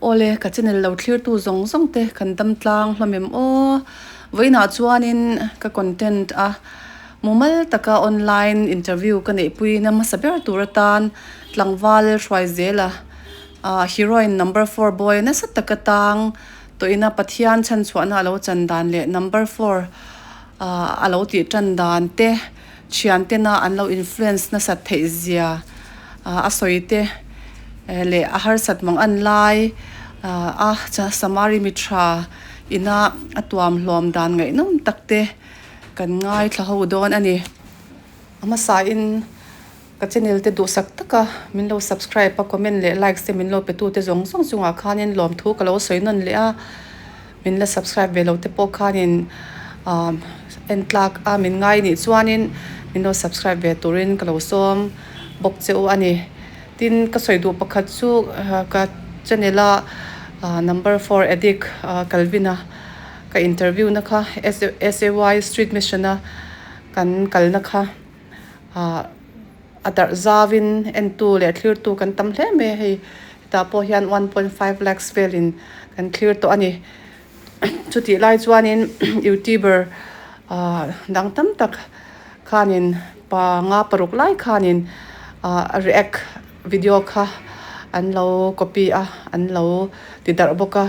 Awle, ka channel lo thlirtu zawng zawng te kan damtlang hlawm em aw, vawiinah chuanin ka content a mumal taka online interview ka neih puiin a hmasa ber tur atan tlangval hruai zela ah heroine number four bawi nasa taka tang tawina Pathian chhanchhuahna a lo chan dan leh number four ah a lo tih tan dan te, Thiantena an lo influence nasat theih zia a sawi te leh a harsat mang an lai a Samari mithra ina a tuam hlawm dan ngaihnawm tak te kan ngaithla ho dawn a ni. Hmasa in. Ka channel te duhsak taka min lo subscribe a, comment leh likes te min lo pe tute zawng zawng chungah khanin lawmthu ka lo sawi nawn leh a, min la subscribe ve lote pawh khanin aah en tlak a, min ngai nih chuanin min lo subscribe ve turin ka lo sawm bawk che u a ni. Tin ka sawi duh pakhat chu ka channel a number four addict Kalvin a ka interview na kha, SAY street mission a kan kal na kha. ah a darh zau in entu leh thlirtu kan tam hle mai a hei tah pawh hian one point five lakhs vel in kan thlir tawh a ni chutih lai chuan in youtuber ah dang tam tak khan in panga paruk lai khan in ah react video kha an lo copy a an lo ti darh bawk a.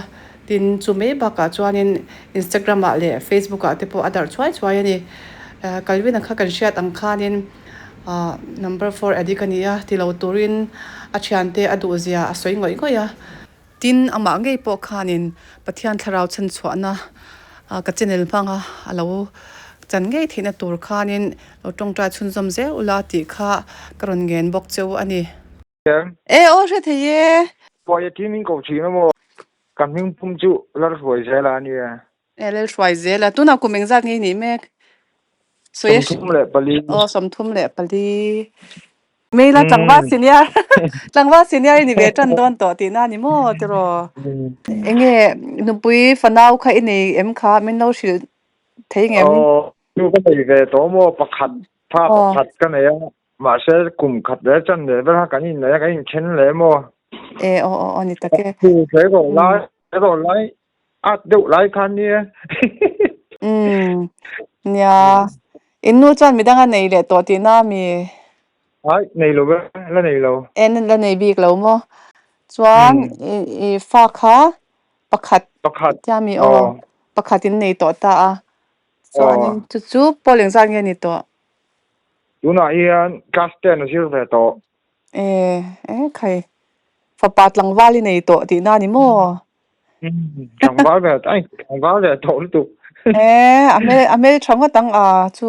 Tin, chu mai bakah chuanin Instagram-ah leh Facebook-ah te pawh a darh chuai chuai a ni. Kalvin-a kha kan hriat ang khanin Number four addict a ni a ti lo turin a thiante a duhzia a sawi ngawih ngawih a. Tin, amah ngei pawh khanin Pathian thlarau chhanchhuahna ka channel hmanga a lo chan ngei theihna tur khanin lo tawngtai chhunzawm zeu la tih kha ka rawn ngen bawk che u a ni. Ken. E o hre thei e. Pawh ya tingin ko thin a maw. Ka hming pum chu lar hruai zel a ania. E lar hruai zel a. Tunah kum engzat ngei nih mek? Sawi a hre. Sawmthum leh pali. O sawmthum leh pali. Mei la tlangval senior tlangval senior i ni ve tan dawn tawh tihna a ni maw tiraw. Enge nupui fanau kha i nei em kha min lo hrilh thei ngem. O ka nei ve tawh a maw pakhat pa pakhat ka nei a. Mahse kum khat leh chan leh bera kan innei a kan inkhen leh maw? E aw aw aw ni tak e. Pu hlei rawh lai, hlei rawh lai, at deuh lai khan ni e. Umm, nia, in nu chuan midang a nei leh tawh tih na a mi? Ai, nei lo bera, la nei lo. E, la nei bik lo maw? Chuan i fa kha pakhat tia mi aw, pakhat in nei tawh ta a. Chuanin chu chu Paul eng zat nge ni tawh? Tunah hian class ten a zir ve tawh. E, e khai. Fapa tlangval i nei tawh tihna a ni maw? Tlangval ve tawh, ai, tlangval ve tawh lutuk. E, a hmel, a hmel tha ngawt ang a, chu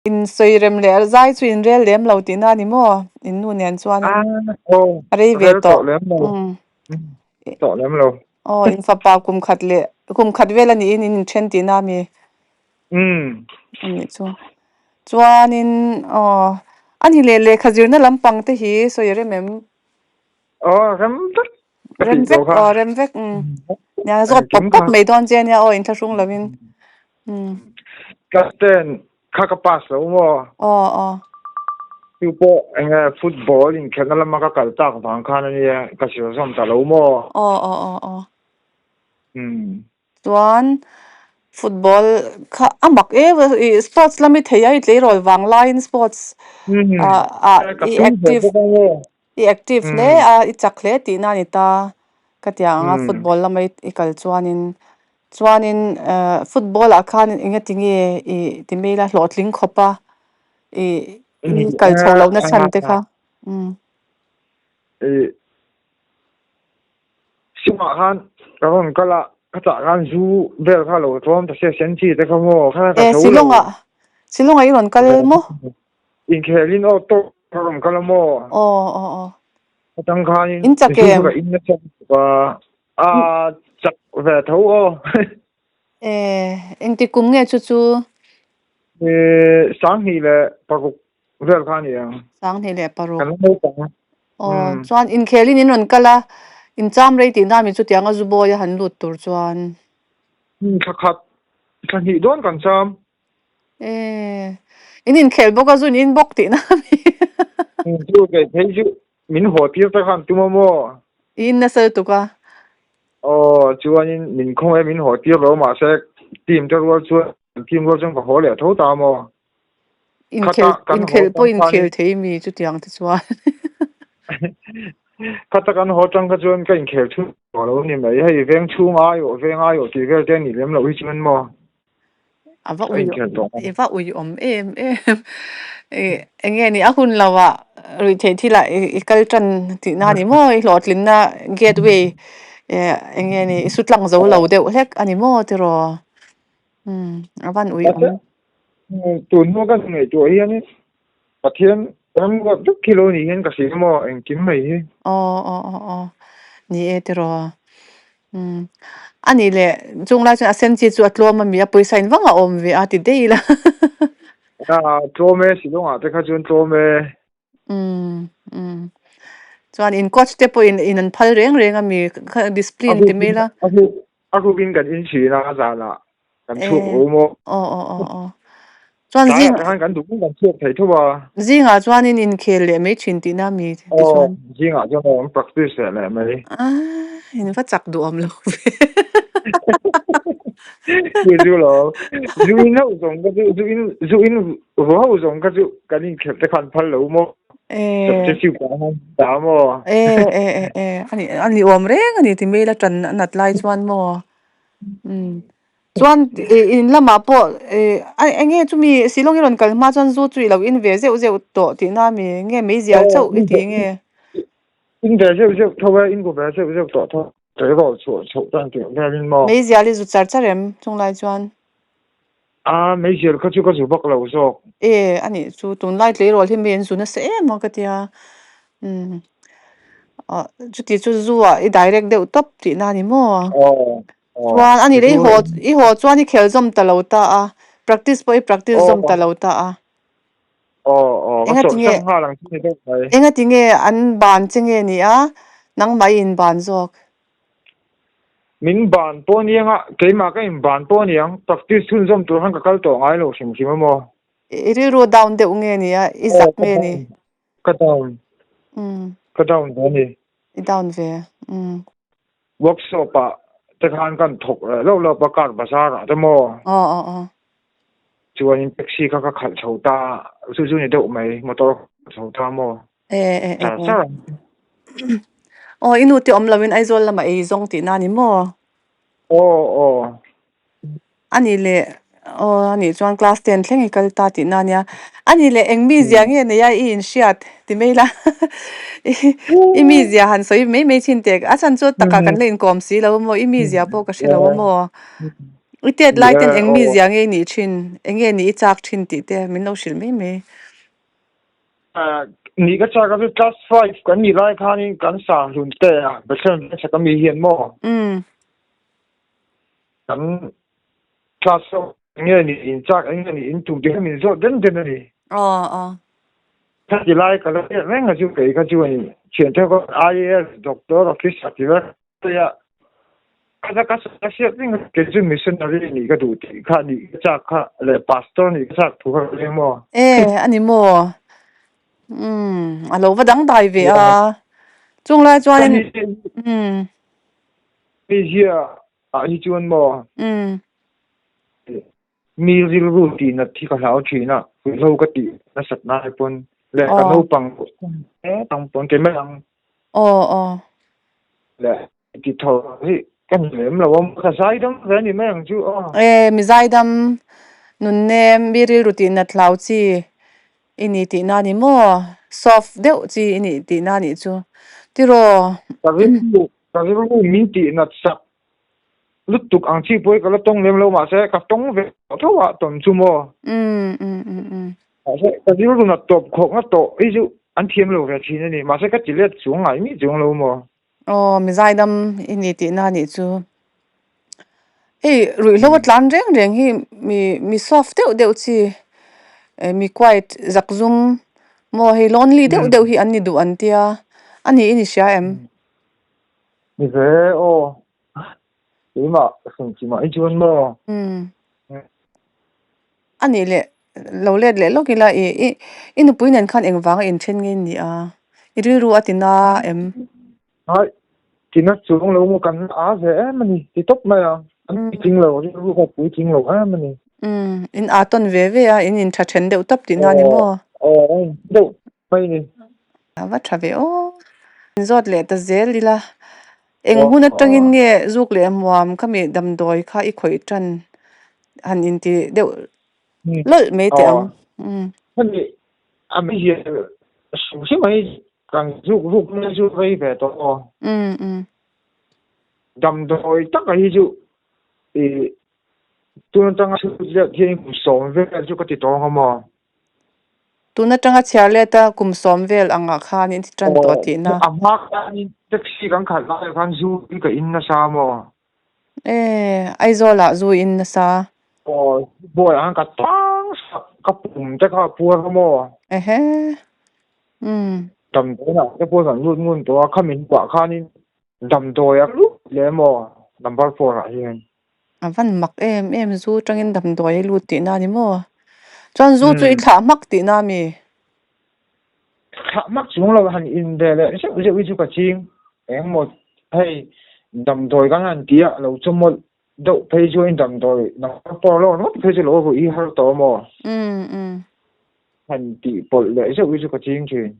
insawi rem leh a zai chu inrel lem lo tihna a ni maw? In nu nen chuan a rei ve tawh. Aw, in fapa kum khat leh, kum khat vel a niin in inthen tihna a mi. a nih chu. Chuanin aw a ni leh lehkha zirna lam pang te hi sawi rem em? Aw rem vek ka tih tawh kha. Rem vek aw rem vek umm nia zawt pawp pawp mai dawn che nia aw intha hrung lovin umm. Class ten kha ka pass lo maw? Aw aw. Chu pawh eng nge football inkhelhna lama ka kal tak vang khan a nia ka sirsawm ta lo maw? Aw aw aw aw. Umm. Chuan football kha a mak em a i sports lam i theih a i tleirawl vang laiin sports ah i active i active hle a i chak hle tihna a ni ta ka tia ang a football lama i kal chuanin chuanin football ah khan eng emaw tinge i ti mai ila hlawhtling khawp a i kal chhoh lohna chhan te kha. Sumah khan ka rawn kal a, khachah khan zu vel kha lo tlawm ta se, senchi te kha maw kha ka tho lo. E, Silunga i rawn kal maw? Inkhelin aw tawk ka rawn kal a maw? Aw aw aw. Hetiang khanin zu chu ka in nachho bawk a, a chak ve tho aw. Eh, engti kum nge chu chu? Eh, Sanghnih leh Paruk vel kha a ni ang. Sanghnih leh Paruk. Kan la ngaih tak ang. Oh, chuan inkhelhin in rawn kal a, incham rei tihna mi chutiang a zu bawi a han lut tur chuan. Hmm, thla khat, thla hnih dawn kan cham. Eh, in inkhel bawk a zun in bawk tihna mi. Chu kei phei chu Min haw tir ta khan tum a maw? I in na sel tuk a. Aw, chuanin min khaw nge min haw tir lo mahse team te rual chuan kan team rual chuan ka haw leh tho ta a maw? Khata kan haw tang khan. Inkhel thei mi chutiang te chuan. Khata kan haw tang kha chuan ka inkhel thup tawh lo a ni mai. Hei veng chhung aiawh veng aiawh tih vel te a nih lem lo hi chu an maw? a va ui i va ui awm em em i eng nge ni a hun lo a rui theih thil ah i kal tan tih na ni maw i hlawhtling na gate way eng nge ni i su tlang zo lo deuh hlek a ni maw ti raw a van ui awm tun hnung ka ngaih tuah hian in Pathian ram ruat vek khi lo nih hian ka si maw engkim mai hi. Aw aw aw aw ni e tiraw umm ani le chung lai chuan a sen chi chu a tlawm a mi a pawisa in vanga awm ve a ti daih ila a tlawm e silawng ah te kha chuan tlawm e. Umm umm chuan in coach te pawh in in an phal reng reng a mi kha discipline ti mai la. A rukin kan inchhin a zanah kan chhuak awm aw. Aw aw aw aw. Chuan zing. Thlai ah chuan kan duh in kan chhuak thei theuh a. Zingah chuan in inkhel leh mai thin tih na mi te chuan. Aw zingah chuan aw an practice leh leh mai. Aii in va chak duh awm lo ve. Chu chu lo. Zu in ho zawng ka chu zu in zu in ruah ho zawng ka chu kan inkhelh te khan phal lo maw. Substitute pawh a han ta maw? E e e e ani a ni awm reng a ni ti mail a tan a nat lai chuan maw umm chuan e in lamah pawh e ai eng nge chumi Shillong i rawn kal hma chuan zu chu i lo in ve zeuh zeuh tawh tih na a mi nge mei zial chauh i ti nge? In ve zeuh zeuh tho a in ku ve zeuh zeuh tawh tho. Kei rawh chhuah chhoh tan teh vel in maw? Meizial i zu char char em chunglai chuan? Aa, Meizial kha chu ka zu bak lo zawk. E, a nih chu, tunlai tleirawl hi meiin zu nasa em maw ka ti a, umm, ah, chuti chu zuah i direct deuh tawp tih na a ni maw? Aw, aw, Chuan a nih leh, i haw, i haw chuan i khelzawm ta lo ta a, practice pawh i practice zawm ta lo ta a. Enga tinge enga tinge an ban che nge nia nangmai in ban zawk. Min ban pawh niang a keimah ka in ban pawh aniang practice hun zawm tur khan ka kal tawh ngai lo hrim hrim a maw. I rilru down deuh nge nia i zak nge ni. Ka down ka down ve ani. I down ve. Workshop ah te khan kan thawk reh lo lo Pakar Bazar ah te maw. Aw aw aw. Chuan in taxi kha ka khalh chho ta. Chu chu ni deuh mai motor kha chho ta maw. E e e. Char char ang te. Aw i nu te awm lo in Aizawl lam ah ei zawng tih na ni maw. Aw aw. A nih leh, aw a nih chuan class ten thleng i kal ta tihna ania, a nih leh eng mi zia nge neia i inhriat ti mai la i mi zia han sawi mai mai thin teh a chhan chu takah kan la inkawm si lo maw, i mi zia pawh ka hre lo a maw, i tet lai ten eng mi zia nge i nih thin, eng nge nih i chak thin tih te min lo hrilh mai mai. Nih ka chak a chu class five kan nih lai khanin kan sanghlun te ah Bethlehem Biaksaka mi hian maw? Kan class ho nge ni in chak enge ni in tum tih kha min zawt den den a ni. Aw aw. Kha ti lai ka la riat reng a chu kei kha chu a ni. Thian thei kha IAS doctor officer ti la sawi a. Kha za ka sawi a hriat reng a kei chu missionary a nih ka duh tih kha a nih ka chak kha leh pastor a nih ka chak thu kha ka rem maw. E a ni maw umm a lo va dangdai ve a. Chung lai chuan in umm. Asia ah hi chuan maw? Umm. Mi rilru tihna khi ka hlau thin a, fuihlo ka tih nasat nai pawn leh ka naupang hetang pawn kei mai ang. Aw aw. Leh i ti tho hi ka ni lem lo a, ka zai dam ve a ni mai ang chu aw. E, mi zai dam nunnem mi rilru tihna hlau chi i ni tihna a ni maw? Soft deuh chi i ni tihna a nih chu. Tiraw. Ka rilru Ka rilru min tih nat sak lutuk ang chi pawi ka la tawng lem lo mahse ka tawng ve tawh tho a tawn chu maw. Mahse ka rilru nat tawp khawkna tawh hi chu an thiam lo ve thin a ni mahse ka ti let chu a ngai miah chuang lo maw. Aw mizai dam i ni tihna anih chu. Hei ruihhlo atlan reng reng hi mi mi soft deuh deuh chi eh mi quiet zakzum maw hei lonely deuh deuh hi an ni duh an tia a ni i ni sia em. Ni ve aw, keimah ka sawn tih mah hi chuan maw? Umm, a nih leh, lo let leh lawk ila i, i, i nupui nen khan engvanga inthen ngei ni a, i rilru a tina em? Haih, Tina chu lo ngo kan a ve em a ni, ti tawp mai a, kan ti tling lo, rilru ho pui tling lo em a ni. Umm, in aa tawn ve ve a, in intha then deuh tap tihna a ni maw? Aw, aw, aw, deuh mai a ni. A va tha ve aw. Min zawt leh ta zel ila. Eng hun atangin nge zuk leh muam ka mi damdawi kha i khawih tan han inti deuh lawlh mai teh ang. Hemi a bi hian hrim hrim a hi kan zuk zuk mai chu rei ve tawh aw. Damdawi taka hi chu i Tun atanga chhiar let hi kum sawm vel chu ka ti tawng a maw? Tun atanga chhiar let a kum sawm vel angah khan in ti tan tawh a tih na. A hma khanin taxi kan khalh lai khan zuin ka in nasa a maw? Eh, Aizawlah zu in nasa. Aw, chu bawiah khan ka tang sak, ka pum te kha puar a maw? Ehe, umm. Damdawiinah te pawh kan lut ngun tawh a, kha min buah khanin damdawiah ka lut leh a maw? Number four-ah hian. A van mak em em zu tangin damdawi hi lut tihna a ni maw? Chuan zu chu i Hmm. thlah hmak tihna a mi. Thlah hmak chung lo han in ve leh zeuh zeuh hi chu ka ching. Engmaw hei damdawi kan han ti a lo chawm mawlh deuh phei chu i damdawi nang ka pawr lawk ringawt phei chu lo aww i har tawh a maw? Hmm, hmm. Han tih pawlh leh zeuh hi chu ka ching thin.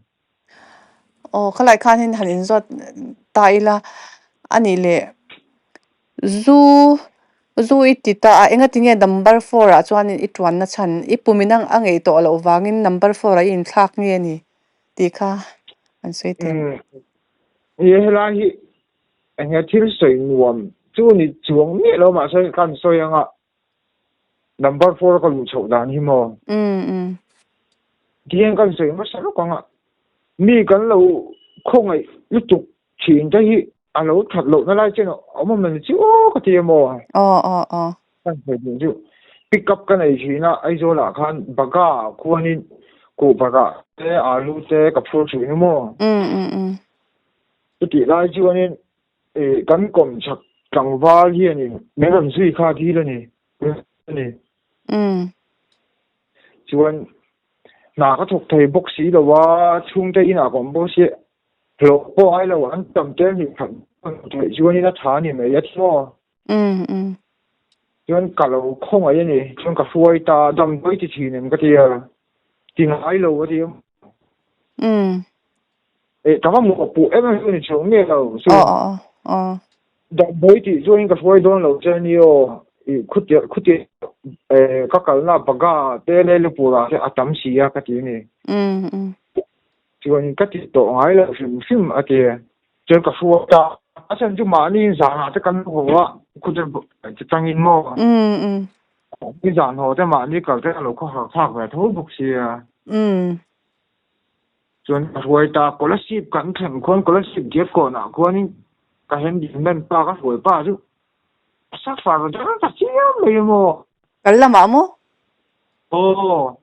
Aw, khalaih khanin han inzawt ta ila a nih leh. Zu, zu i ti ta a, enga tinge number four ah chuanin i ṭuanna chhan? I pumin a ngaih tawh loh vangin number four ah i inthlak nge ni? tih kha an sawi tel. Enge helai hi enge thil sawi nuam chu a ni chuang miah lo, mahse kan sawi anga Number four ka luh chhoh dan hi mo. Mm mm. Tiang kan sei ma sa lawk anga. Mi kan lo khongai lutuk thin te hi a lo that lo na lai chen awm awm ni chu o ka ti emaw. O o o. Kan sei din chu pick up ka nei thin a Aizawl ah khan baga khuanin ku baga te alu te ka phur thin emaw. Mm mm mm. Chutih lai chuanin Eh, kan kawm chak tlangval hi a ni. Min rawn zui kha thil a ni. A ni. Umm. Chuan, Hna ka thawk thei bawk si lo a, chhungte inah ka awm bawk si. Hlawh pawh ai lo an tam tel ni khat ka hmu theih chuan in a tha ni mai a ti maw? Umm umm. Chuan ka lo khawngaih a ni, chuan ka hruai ta, damdawi chi thin em ka ti a, ti ngai lo a ti. Umm. Eh, ka mamu a puh em em ni chho nge lo, su. Aw, aw, aw, aw. Dah bawi tih chuangin ka hruai dawn lo che ni aw. Eh, khutia, khutia, eh, ka kalna baga te leh lupura te a tam si a ka ti a ni. Um, um. Chuan ka tih tawh ngai lo hrim hrim a ti. Chuan ka hruai ta. A chan chu mahniin zan ah te kan la haw a, khutia chu changin maw. Um, um. Mahni zan haw te mahni kalte a lo khaw hak thlak ve tho bawk si a. Um. Chuan ka hruai ta, Kolasib kan thleng khuan Kolasib Gate kawnah khuanin ka hen din men pa ka hruai pa chu a sak far lo chuan ka chiang mai em aw. Kal lamah maw? Aw.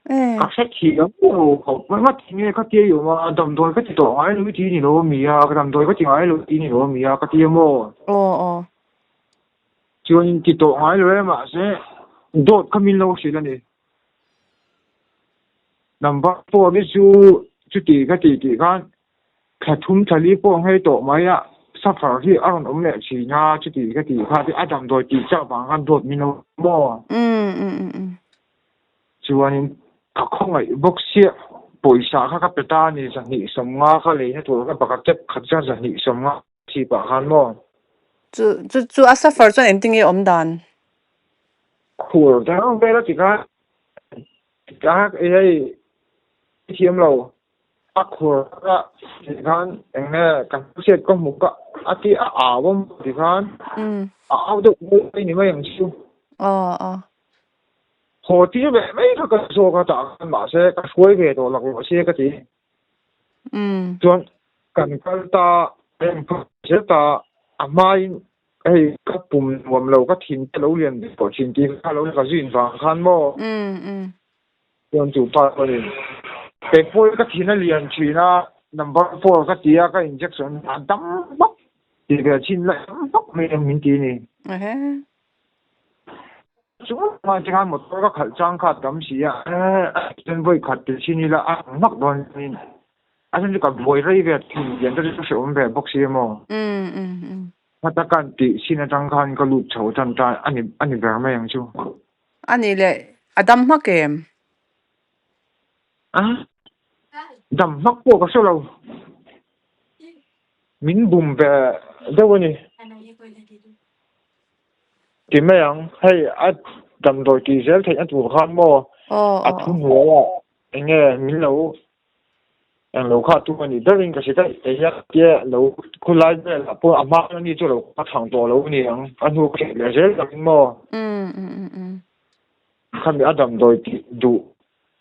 Eh. Ka hre thih ang i aw, haw ma ma ti nge ka ti ai awma damdawi ka ti tawh ang ai lo i ti ni lo ami a, ka damdawi ka ti ngai lo ti ni lo ami a ka ti em aw. Aw aw. Chuanin ti tawh ngai lo e mahse dawt kha min lo hrilh a ni. Hnam var pawh ni chu chuti ka ti tih khan thla thum thla li pawh ngei tawh mai a, suffer hi a rawn awm leh thin a chuti ka ti kha a damdawi tih chiah vang khan dawt min lo maw? Chuanin ka khawngaih bawk sia, pawisa kha ka pe ta a ni, zahnih sawm nga kha lei na tur kha pakhat che pakhat chuan zahnih sawm nga Chhip ah khan maw? Chu chu chu a suffer chuan engtin nge awm dan? Khur dang vela ti khan tak i hei i thiam lo a khur a ti khan eng nge ka hriat ka hmu ka a ti a a awm ti khan a au deuh deuh mai ni mai ang chu a a haw tir ve mai kha ka zawk a tah khan mahse ka hruai ve tawh lak lo se ka ti. chuan kan kal ta rem phah zel ta a hmaiin hei ka pum nuam lo ka thin te lo lian ve pawh thin tih kha lo la ka zui in vang khan maw chuan chu pa chuanin keipawi ka thin a lian thin a number four ka ti a ka injection dan dam vak tihvel chin la dam vak mai ang min ti a ni. Chu hmai che khan motor ka khalh chang kha tam si a, accident vawi khat tih a hriat ila a ang hmak dawn hian a then chu ka buai rei ve a tih hian lian tawk chu ka hreh awm ve bawk si em aw. Kha ta kan tih sin atang khan ka lut chho tan ta a ni a ni ber mai ang chu. A nih leh, a dam hmak em? Aa, dam hmak pawh ka hre lo. Min bum ve deuh a ni. Ti mai ang, hei a damdawi tih zel theihna tur khan maw a thuhnuaiah enge min lo eng lo kha tu a nih ber in ka hre daih. Kei hian tia lo khulai velah pawh a hmang ami chu a lo kha thlang tawh lo a ni ang. A hnu ka hreh leh zel tak in maw? Khami a damdawi tih duh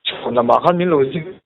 chhuah lamah khan min lo zing.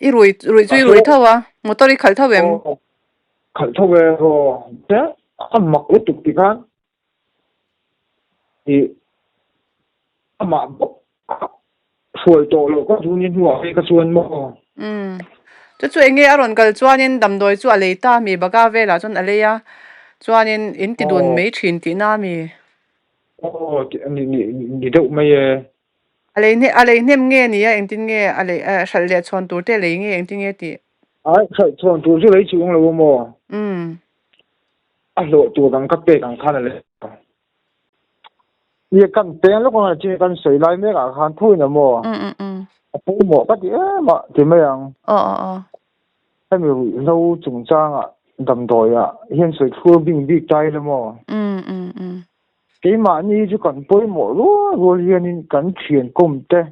I ruih ruih chu i ruih tho a, motor i khalh tho em? Aw, khalh tho e haw. Tia a mak lutuk tih khan i amah bawk kha hruai tawh loh ka zun i hnuah phei ka chuan maw? Umm. Chu chu enge a rawn kal chuanin damdawi chu a lei ta a mi, Baga velah chuan a lei a, chuanin in ti dun mai thin tihna a mi. Aw, ni deuh mai e. A lei hnem, a lei hnem nge ni a, engtin nge a lei, a hralh leh chhawn tur te a lei nge, engtin nge ti? A hralh chhawn tur chu lei chhung lo a maw? Umm. A hlawh tur kan ka pek ang khan a lei a. Nia kan peng lawk ang a ching kan sawi lai mek ah khan thu in a maw? Umm umm umm. A pawimawh ka ti em a ti mai ang. Aw aw aw. Hemi ruihhlo chungchang ah damdawi ah hian sawi thlur bing bik ta ila maw? Umm umm umm. Keimahni chu kan pawimawh rual rual hianin kan thiankawm te,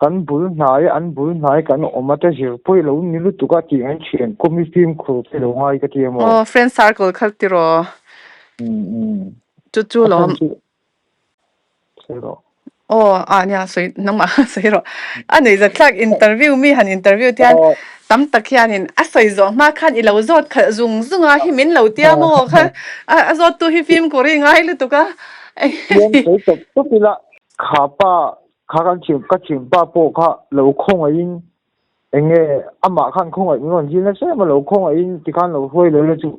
kan bul hnaia an bul hnai kan awm ate zirpuai lo ni lutuk a tih an thiankawm i fimkhur te lo ngai ka ti a maw? Aw, friend circle kha tiraw? Chu chu lo. Ṭhelo. Aw a nia sawi nangmah kha sawi erawh a nei zat thlak interview mi han interview tia Aw tam tak hianin a sawi zawh hma khan i lo zawt khalh zung zunga hi min lo tia maw kha a a zawttu hi fim ku ri ngai lutuk a Thiam engtin sawi tawp tawp ila kha pa kha kan chim ka chim pa pawh kha lo khawngaihin eng nge amah khan khawngaih min rawn zil nasa em a lo khawngaihin tikhan lo hruai leh la chu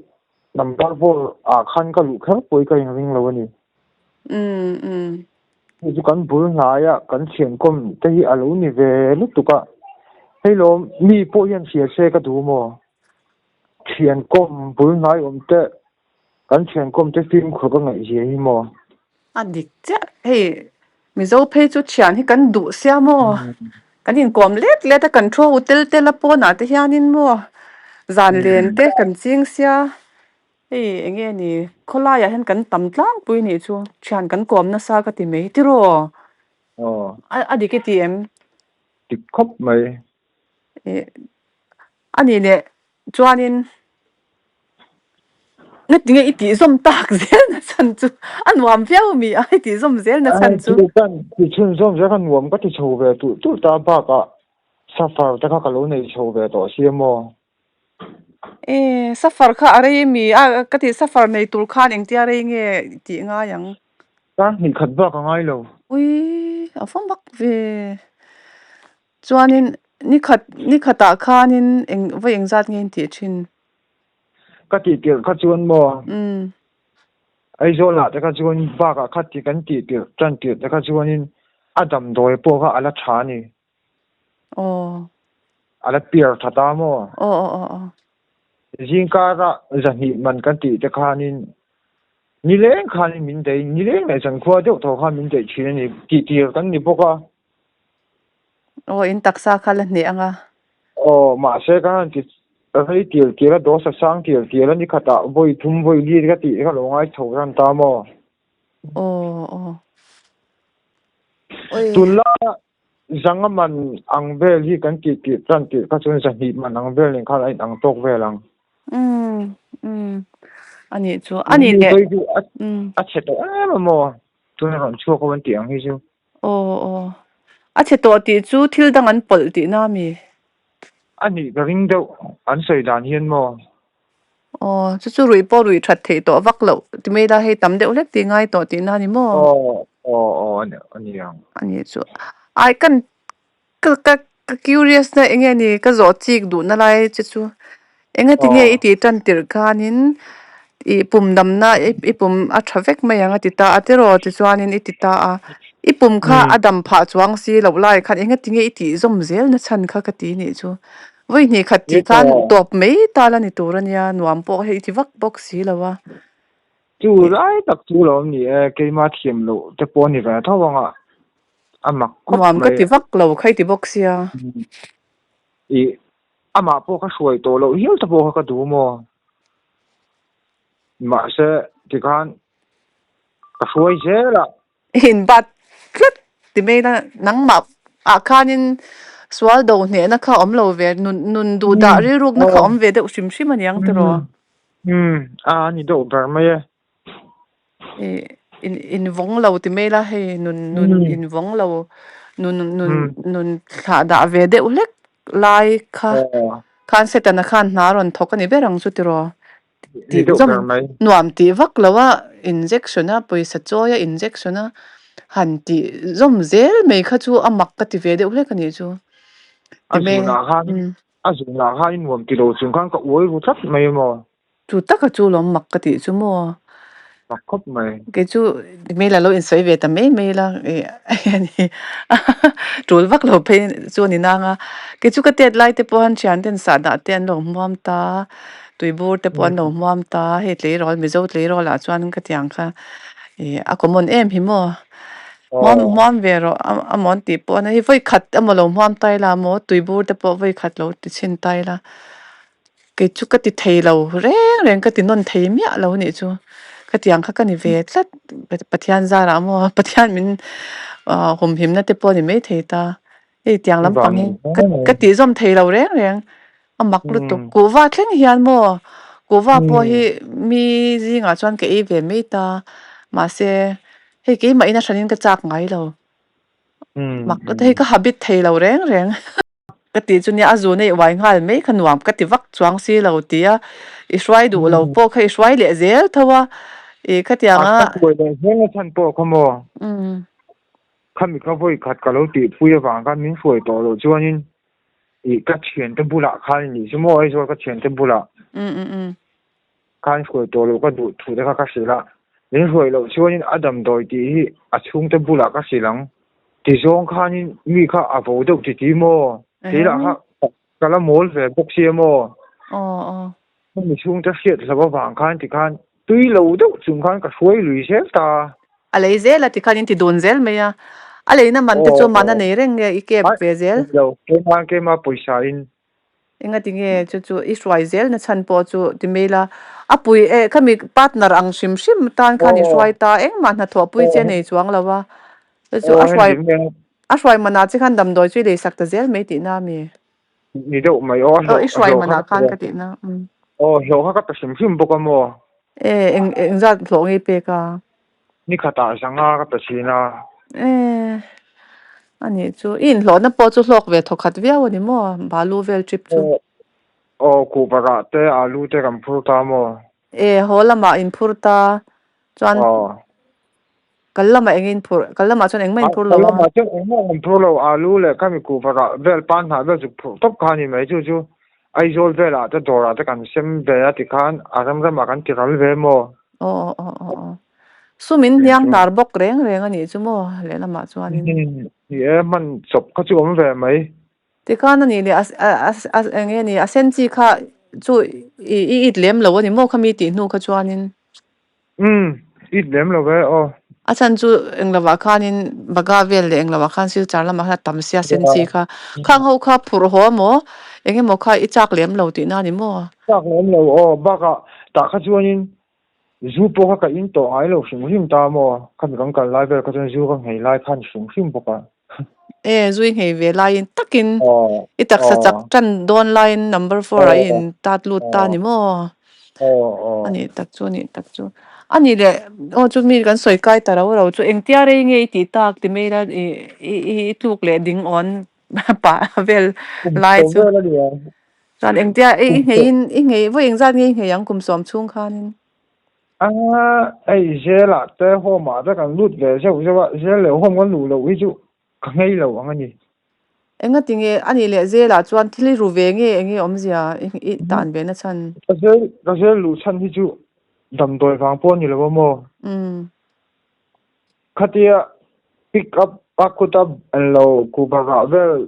Number bawr ah khan ka luh kher pawi ka inring lo a ni. Umm umm. Hei chu kan bul hnai ah kan thiankhawm te hi a lo ni ve lutuk a. Hei lo, mi pawh hian hria che ka duh maw? Thiankhawm bul hnai awm te kan thiankhawm te fimkhur ka ngaihzia hi maw? A dik chiah hei Mizo phei chu thian hi kan duh sia maw kan inkawm let let a kan thu a u tel tel a pawnah te hianin maw zan len te kan ching sia hei eng nge ni khawlaiah hian kan tam tlangpui ni chu thian kan kawm nasa ka ti mai tiraw a dik i ti em? Dik khawp mai. ih a nih leh chuanin na tinge i tihzawm tak zel nachhan chu a nuam viau a mi a i tihzawm zel nachhan chu. Ai chuan tihchhun zawm zel kha nuam ka ti chho ve tûr tûr ta a bakah suffer te kha ka lo nei chho ve tawh si e maw. Eh suffer kha a rei a mi a ka tih suffer nei tur khan engtia rei nge i tih ngai ang. Ka hnih khat bak a ngai lo. Ui a va mak ve. Chuanin ni khat ni khatah khanin eng vawi engzat nge in tih thin? Ka tihtirh kha chuan maw? Um. Aizawlah te kha chuan bakah kha ti kan tihtirh tantirh te kha chuanin a damdawi pawh kha a la tha a ni. Aw. A la piar tha ta maw? Aw aw aw aw. Zingkara zahnih man kan tih te khanin ni leng khanin min daih, ni leng leh zankhua deuh tho khan min daih thin a ni, tihtir kan ni bawk a. Aw in taksa kha la hneh anga. Aw mahse ka han ti rei tir tir a dawsa sang tir tir a nikhat ah vawi thum vawi lir ka tih ka lo ngai chho ka han ta maw. Aw aw. Awi. Tun la zanga man ang vel hi kan tih tih tan tih kha chuan zahnih man ang vel nen khan a in ang tawk vel ang. Umm umm a nih chu a nih leh. Umm. A chhe tawh em a maw tun a rawn chhuak ho an tih ang hi chu. Aw aw. A chhe tawh tih chu thil dang an pawlh tihna a mi? A nih ka ring deuh, an sawi dan hian maw? Aw, chu chu ruih pawh ruih that theih tawh vak loh ti mai la, hei tam deuh hlek tih ngai tawh tihna a ni maw? Aw aw aw a nih ang. A nih chu. Ai kan Ka ka ka curious na enge ni ka zawh chik duh na lai che chu enga ti nge i Aw. tih tan tirh khan in i pum dam na i pum a tha vek mai ang a ti ta a ti rawh ti chuan in i ti ta a i pum kha a dam phah chuang si loh lai khan enga ti nge i tih zawm zel na chhan kha ka ti ni chu vawi hnih khat tih khan tawp mai ta la ni tur a nia nuam pawh hei i ti vak bawk si lo a Chu lai tak chu lo awm ni e, keima thiam loh te pawh a ni ve tho ang a, a mak khawp mai. Nuam ka ti vak lo khai ti bawk sia. I, amah pawh ka hruai tawh loh hial te pawh kha ka duh maw? Mahse, tikhan ka hruai zel a, I inbat tlat ti mai la, nangmah ah khanin sual do hnehna kha awm lo ve, nun nun duh dah Mm, rilrukna kha aw, awm ve deuh hrim hrim a ni ang tiraw? mm, mm, a ni deuh ber mai e. I in invawng lo ti mai la, hei nun nun Mm, invawng lo, nun nun mm, nun thlah dah ve deuh hlek lai kha, aw, khan Setana khan hna rawn thawk a ni ber ang chu tiraw? Ti deuh ber mai. Nuam tih vak lo a, injection a, pawisa chawi a injection a han tih zawm zel mai kha chu a mak ka ti ve deuh hlek a nih chu. Ti mai a. A zunah khan, a zunah khan i nuam ti lo chung khan ka uai ru tlat mai emaw. Chu taka chu lo mak ka tih chu maw. Sak khawp mai. Kei chu Hmel ah lo insawi ve ta mai mai ila tul vak lo phei chu ani nang a kei chu ka tet lai te pawh han thian ten sah dah te an lo hmuam ta tui bur te pawh an lo hmuam ta hei tleirawl mizo tleirawl ah chuan ka tiang kha i a common em hi maw hmuam Aw. hmuam ve rawh a a mawn tih pawh a nia hei vawi khat emaw lo hmuam ta ila maw tui bur te pawh vawi khat lo ti chhin ta ila. kei chu ka ti thei lo reng reng ka ti nawn thei miah lo anih chu ka tiang kha ka ni ve tlat pathian zara maw pathian min ah humhim na te pawh a ni mai thei ta hei tiang lam pang hi ka tih zawm thei lo reng reng a mak lutuk kuhva thleng hian maw kuhva pawh hi mi zingah chuan ka ei ve mai ta mahse hei keimah in a hran in ka chak ngai lo Hei ka habit thei lo reng reng. Ka tih chu nia a zu nei uai nghal mai kha nuam ka ti vak chuang si lo tia i hruai duh lo pawh kha i hruai leh zel tho a i khatiang a. Ka hruai leh zel a chhan pawh kha maw khami ka vawi khat ka lo tih pui avang khan min hruai tawh loh chuanin i ka thiante bulah khan i nih chu maw Aizawl ka thiante bulah. Khan hruai tawh loh ka duh thu te kha ka hrilh a, min hruai loh chuanin a damdawi tih hi a chhungte bulah ka hrilh ang. Tizawng khanin mi kha a vo deuh titi maw tih lah kha ka la mawl ve bawk si em aw. Hemi chhungte hriat hlauh avang khan ti khan tui lo deuh chung khan ka hruai lui zel ta. A lei zel a ti khan in ti dun zel mai a, a leina man te chuan mahna nei reng nge i kep ve zel? Kei lo, keima keima pawisa in Enga ti nge chu chu i hruai zel na chhan pawh chu ti mai ila, a pui e khami partner ang hrim hrim tan khan i hruai ta engmah hnathawh pui che nei chuang lo va, chu chu a hruai a hruai manah che khan damdawi chu i lei sak ta zel mai tih na ami? Ni deuh mai aw hlawh hlawh kha ka ti a, aw hlawh kha ka ta hrim hrim bawk a maw? E eng engzat hlawh ngei pek a? Ni khatah zanga ka pe thin a. Eh, anih chu. I inhlawhna pawh chu hlawk ve thaw khat viau a ni maw balu vel trip chu? Aw, kuh bakah te alu te kan phur ta maw? Eh, haw lamah in phur ta. Chuan kal lamah eng in phur? Kal lamah chuan engmah in phur lo a. Kal lamah chuan engmah kan phur lo. Alu leh khami kuh bakah vel pan hnah vel chu phur tawp kha a ni mai chu chu. Aizawl velah te dawrah te kan sem ve a ti khan a ram ramah kan ti ral ve maw? Aw aw aw aw aw. Sum in hniang hnar bawk reng reng a nih chu maw lehlamah chuanin. Ni e, hman chawp kha chu awm ve mai. Ti khan a nih leh a a a eng nge ni a sen chi kha chu i i it lem lo a ni maw khami tih hnu kha chuanin. Umm, i tlem lo e aw. A chhan chu eng lovah khanin baga vel leh eng lovah khan silchar lamah khan a tam sia sen chi kha. Khang ho kha phurh haw maw, eng emaw kha i chak lem lo tihna a ni maw? Chak lem lo aw, bakah tah kha chuanin zu pawh kha ka in tawh ngai lo hrim hrim ta maw, khami kan kal lai vel kha chuan zu ka nghei lai khan hrim hrim bawk a. E zui nghei ve laiin takin i taksa chak tan dawn laiin number four ah i intat lut ta ni maw? A nih tak chu, a nih tak chu. A nih leh, aw chu mi kan sawi kai ta rau rau chu, engtia rei nge i tih tak ti mai la i tluk leh ding awn pah vel lai chu. Sawm vel a ni ang. Chuan engtia, i nghei in, i nghei vawiin zat nge i nghei ang kum sawm chhung khanin? A ei zela te home-ah te kan lut ve zeuh zeuh a, zel leh home kan luh loh hi chu ka ngei lo ang a ni. Engati nge a nih leh zelah chuan thil i ru ve nge eng i awmzia i tan ve nachhan? Ka zel, ka zel luh chhan hi chu damdawi vang pawh a ni lo a maw? Umm. Khatia pick up a kut a bel lo, Kuhbara vel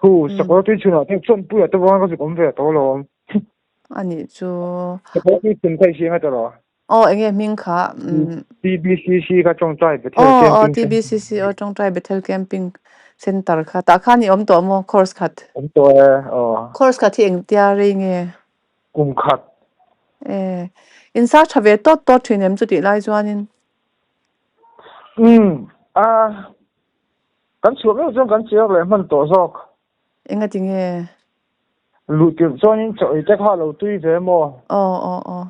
Thu sakawr tui chhunah te chuan puiah te vang ka zuk awm ve a tawlo. A nih chu. Sakawr tui chhun kha i hriat nga ta lo. Aw eng nge hming kha? TBCC kha Tawngtai Bethel Camping. Aw TBCC aw Tawngtai Bethel Camping Centre kha tah khan i awm tawh maw course khat? Awm tawh e aw. Course khat hi engtia rei nge? Kum khat. E in sa tha ve tawt tawt thin em chutih lai chuanin? Umm a. Kan chhuah meuh chuan kan chiar leh hman tawh zawk. Enga ti nge? Luh tirh chuanin chawih te kha lo tui ve maw? Aw aw aw.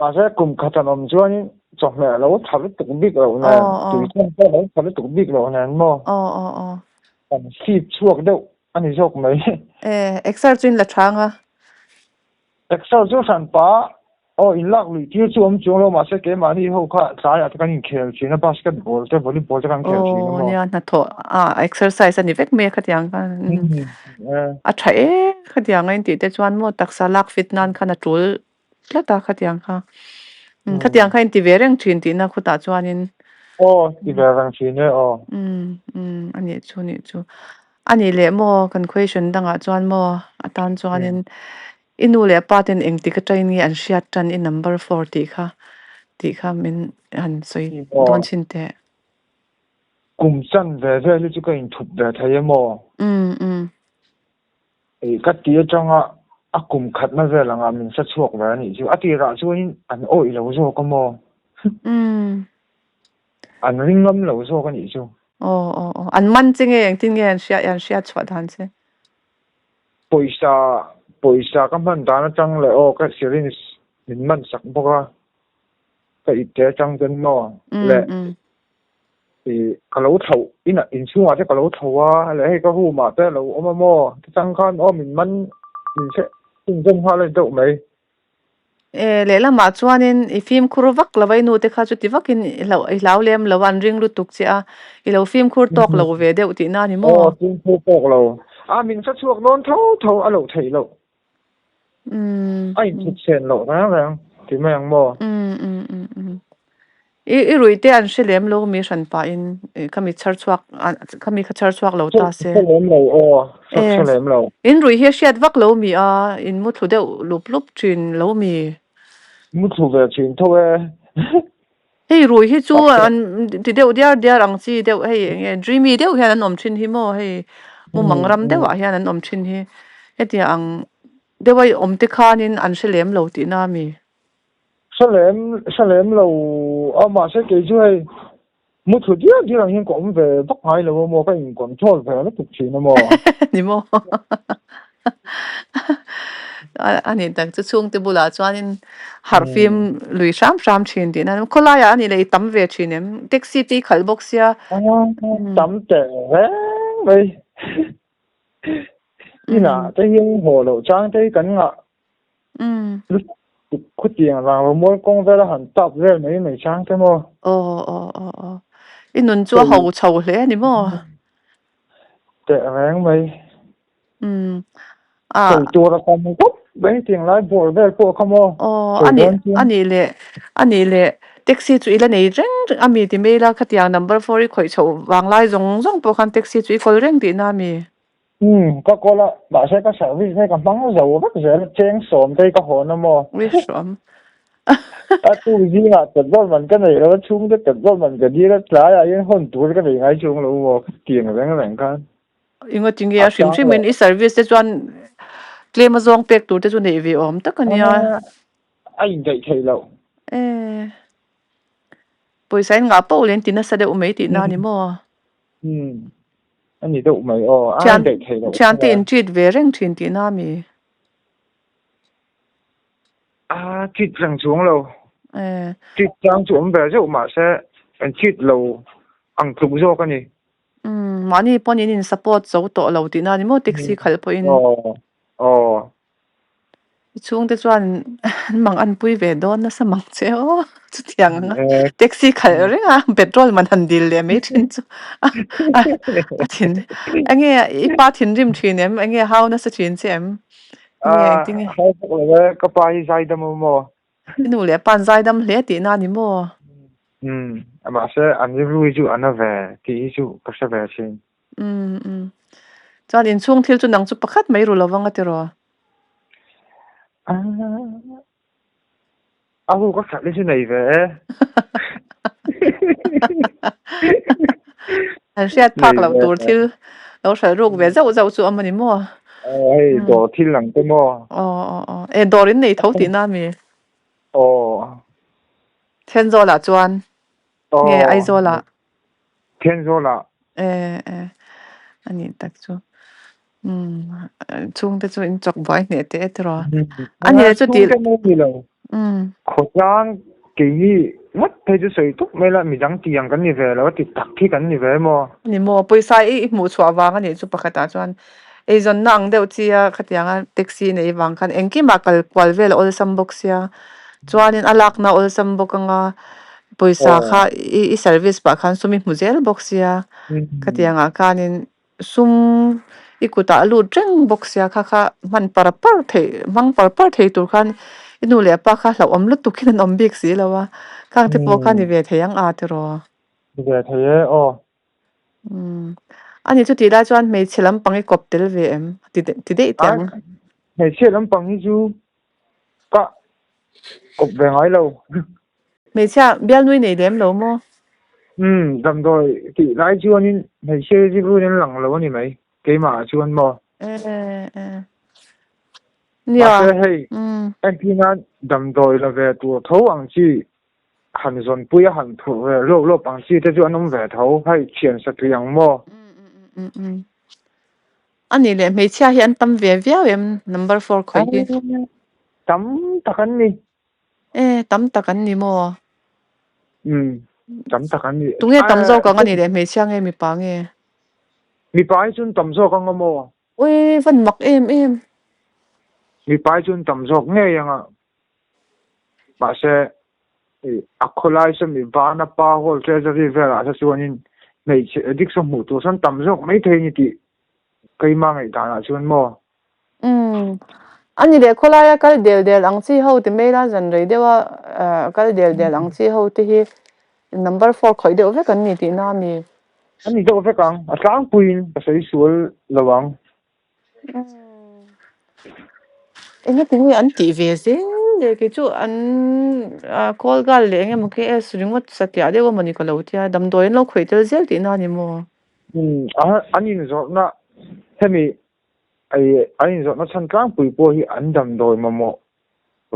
Mahse kum khat han awm chuanin chawhmeh lo tha lutuk bik loh nen, tui chuan pawh lo tha lutuk bik loh nen maw? Aw aw aw. Kan sip chhuak deuh a ni zawk mai. E, exer chu in la chhang a. Excel chu hran pa aw in lak lui tir chu awm chuang lo mahse keimahni ho kha tlai ah te kan in khel thin a basketball te volleyball te kan khel thin a maw. Aw nia hnathawh ah exercise ani vek mai khatiang khan a tha em khatiang a intih te chuan maw taksa lak fit nan khan a tul tlat a khatiang kha khatiang kha inti ve reng thin tihna khutah chuan in aw ti ve reng thin e aw ani chu nih chu. A nih leh maw, kan question dangah chuan maw a tan chuanin i nu leh a pa ten engti ka train nge an hriat tan i number four tih kha tih kha min han sawi dawn chhin teh. Kum chan ve vel hi chu ka inthup ve thei em aw? Umm umm. Ih ka ti atanga a kum khatna vel angah min sa chhuak ve a nih chu a tirah chuanin an awih lo zawk a maw? Umm. An ring ngam lo zawk a nih chu. Aw aw aw. An man che nge engtin nge an hria an hria chhuah dan che. Pawisa pawisa ka hman dan atang le aw ka syringe min man sak bawk a ka it tel chang chuan maw le i ka lo tho in inchhungah te ka lo tho a le hei ka room ah te a lo awm a maw chang khan aw min man min se chungchawm kha a lo in deuh mai. Ehh lehlamah chuanin i fimkhur vak lova i nute kha chuti vakin i hlau i hlau lem lo a an ring lutuk che a i lo fimkhur tawk lo ve deuh tihna a ni maw? Aw fimkhur tawk lo a min sa chhuak dawn tho tho a lo theih loh a inchhipchhen loh rang rang ti mai ang maw? I i ruih te an hre lem lo mi hran pah in i ka mi chhar chhuak ka mi ka chhar chhuak lo ta se. Hre lem lo aw sawt hre lem lo. In ruih hi a hriat vak lo mi a in mu thlu deuh lup lup thin lo mi. Mu thlu ve thin tho e. Hei ruih hi chu an ti deuh diar diar ang chi deuh hei eng nge dreamy deuh hian an awm thin hi maw hei mu mang ram deuh ah hian an awm thin hi hetia ang deuh a awm te khan in an hre lem lo tih na a mi. Hre lem hre lem lo a, mahse kei chu hei muthu dial dial ang hian ka awm ve vak ngai lo a maw, ka in control ve lutuk thin a maw? Ni maw? A nih tak chu chhungte bulah chuanin harh fim lui hram hram thin tih nan, khawlaiah a nih leh i tam ve thin em? Taxi te i khalh bawk sia. Tam teh reng mai. Inah te hi a inhaw loh chang te hi kan ngah khuti ang rang rawmawl kawng vela han tap vel mai mai chang te maw aw aw aw aw i nun chu a ho chho hle a ni maw teh reng mai umm a sawi tura kam vak mai a tiang lai bawr vel pawh kha maw aw a nih a nih leh a nih leh taxi chu ila nei reng reng a mi ti mai ila khatiang number four i khawih chhoh vang lai zawng zawng pawh khan taxi chu i kawl reng tih na a mi. Umm, ka call a, mahse ka service hi ka hmang zo vek zel, cheng sawm te hi ka haw nawm aw. Wish awm. A tu zingah tawt zawk man ka neih lo a, chhungte tawt zawk man ka dir a, tlaiah hian hawn tur ka nei ngai chuang lo maw ka ti ang reng reng khan. I ngaw tinge a hrim hrim in i service te chuan claim a zawng pek tur te chu neih ve awm tak a nia. A inkaih theih loh. Ee, pawisa in ngah poh leh in ti nasa deuh mai tihna a ni maw? Thian te in treat ve reng thin tih na ami? Treat reng chu awm lo. Treat chang chu awm ve zeuh mahse an treat lo ang tluk zawk a ni. Mahni pawn in in support zo tawh lo tih na a ni maw taxi khalh pawhin? I chhungte chuan an mang an pui ve dawn nasa mang che aw chutiang anga taxi khalh reng a petrol man han dil leh mai thin chu a thin enge i pa thinrim thin em enge hau nasa thin che em nge tinge hau bawk lo e ka pa hi zaidam a maw i nu leh pan zaidam hle tihna a ni maw um amah se an rilru hi chu ana ve tih hi chu ka hre ve thin Umm umm chuan inchhung thil chu nang chu pakhat mai ru lo vanga tiraw? A hu ka khat hi nei ve e. An hriat phak lo tur thil lo hralh ruk ve zauh zauh chu a mawni maw? Aw hei dawr thil ang te maw? Aw aw aw e dawr in nei tho tihna ami? Aw. Thenzawl ah chuan nge Aizawl ah? Thianzawl ah. E e a nih tak chu. Umm chhung te chu in chawk buai hneh teh e ti rawh a. A ni le chu tih. Chhung te mai ni lo. Umm. Khawtlang kei hi vat phei chu sawi tawp mai la mi dang ti ang kan ni ve lo a ti tak khi kan ni ve maw. Ni maw pawisa i hmuh chhuah vang a nih chu pakhat ah chuan. Eizawnna ang deuh chi a, khatiang a taxi nei vang khan engkimah kal kual vel a awlsam bawk sia. Chuanin a lakna awlsam bawk anga pawisa kha i service pah khan sum i hmu zel bawk sia. Khatiangah khanin sum i kutah a lut reng bawk sia. Kha kha hman par par theih, hmang par par thei tur khan i nu leh a pa kha hlauhawm lutukin an awm bik si lo a. Khangte pawh kha ni ve thei ang a tiraw? Ni ve thei e aw. Umm ani chuti lai chuan hmeichhe lam pang i kawp tel ve em ti deuh ti deuh te ang a. Hmeichhe lam pang hi chu ka kawp ve ngai lo. Hmeichhia bial nui nei lem lo maw? Umm damdawi tih lai chuan in hmeichhe hi chu rin an lang lo ani mai keimah ah chuan maw. Eh eh. Nia. Mahse hei entîna damdawi la ve tur tho ang chi han zawnpui a han phurh ve lawk lawk ang chi te chu an awm ve tho, hei thian satui ang maw? A nih leh hmeichhia hi an tam ve viau em number four khawih hi. Tam tak an ni. E, tam tak an ni maw? Um, tam tak an ni. Tunge tam zawk ang a nih leh hmeichhia nge mipa nge? Mipa hi chun tam zawk ang a maw? Ui, van mak em em. Mipa hi chun tam zawk ngei ang a. Mahse, a khawlai chu mi vâna pa hall treasury vêlah te chuanin hmeichhe addiction hmuh tur sawn tam zâwk mai thei a ni tih keima ngaih dânah chuan maw? Umm, a ni le, khawlaia kal dêl dêl ang chi ho ti mai la, dân rei deuha kal dêl dêl ang chi ho te hi number four khawih deuh vek an ni tihna a mi? A ni deuh vek ang, a tlangpuiin ka sawi sual lo ang. Engemaw tingin an tih ve zel leh kei chu an aaa call ghal leh eng emaw KS ringawt satliah deuh amawni ka lo tia damdawi an lo khawih tel zel tih na ani maw? An inzawrhna hemi an inzawrhna chhan tlangpui pawh hi an damdawi mamawh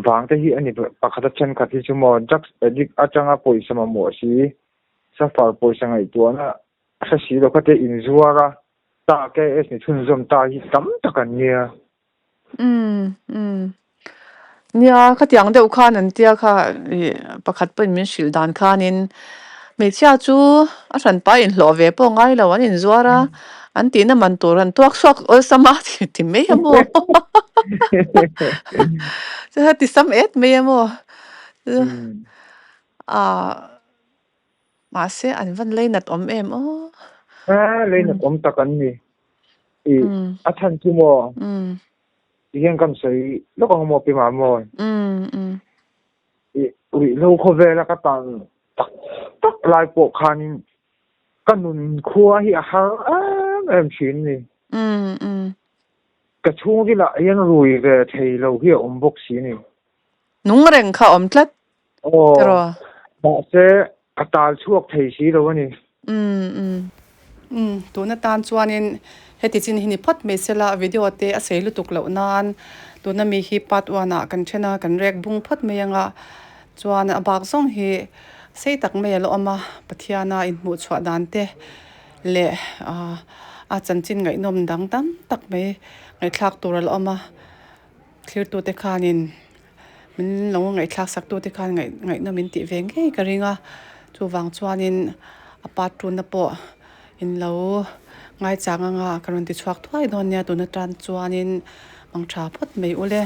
vang te hi ani pakhat a thenkhat hi chu maw drugs addict atanga pawisa mamawh si suffer pawisa ngaihtuahna hre si lo khawtia inzuar a Ta KS nih chhunzawm ta hi tam tak an nia. Umm umm nia khatiang deuh khan an tia kha ih pakhat pawhin min hrilh dan khanin hmeichhia chu a hran pai inhlawh ve pawh ngai lo an inzuar a, an tihna man tur han tuak chhuak awlsam a tih ti mai a maw ti sam et mai a maw chu ah. Mahse an van lei nat awm em aw. A lei nat awm tak an ni. I a chhan chu maw. I hian kan sawi lawk ang maw Pima maw. I ruihhlo khawvela ka tan tak tak lai pawh khanin ka nun khua hi a har em em thin ni. Ka chhung vilah hian rui ve thei lo hi a awm bawk si ni. Nung reng kha awm tlat ka rawh. Mahse a tal chhuak thei si lo a ni. Umm umm. Umm tuna tan chuanin heti chin hi ni phawt mai se la video te a sei lutuk loh nan tuna mi hi part one ah kan then a kan rek bung phawt mai anga chuan a bak zawng hi sei tak mai a la awm a Pathiana inhmuhchhuah dan te leh a chanchin ngaihnawm dang tam tak mai ngaihthlak tur a la awm a. Thirtute khanin min lo ngaihthlak saktute khan ngaihna min tih ve ngei ka ring a, chuvang chuanin a pat tunna pawh in lo ngaichang anga ka rawn ti chhuak thuai dawn nia tun atan chuanin mang tha phawt mai ule.